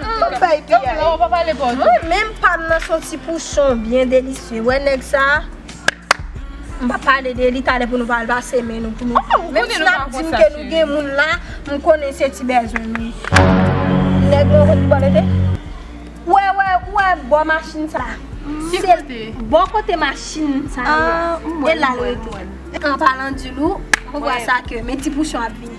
Map bay pi a e. Mwen menm pam nan son ti pouchon byen delisye. Wè nèg sa. M pap pale de li talè pou nou pa al pase men nou pou nou. Menm si nap di m ke nou gen moun la, m konnen se ti bezwen nou ye. Nèg mwen konn ki bò mete. Wè wè ou wè bò machin sa. Ki kote? Bò kote machin sa ye. A m wè m wè m wè. An palan di nou, ou wè sa ke men ti pouchon ap vini.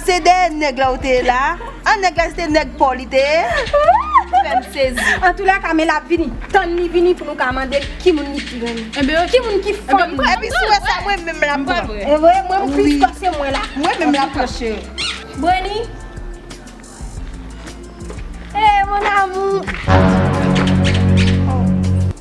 Se dèyè nèg la ou te ye la An nèg la se te nèg paw li te ye Ou fèm sezi. Antoulèka men lap vini tann li vini pou nou ka mandel ki moun li pi renmen ki moun ki fanm li. Epi si ou wè sa mwen menm lap pran. Evre mwen m plis pase mwen la. Mwen menm lap pran cheri. Breni Hey mon amour.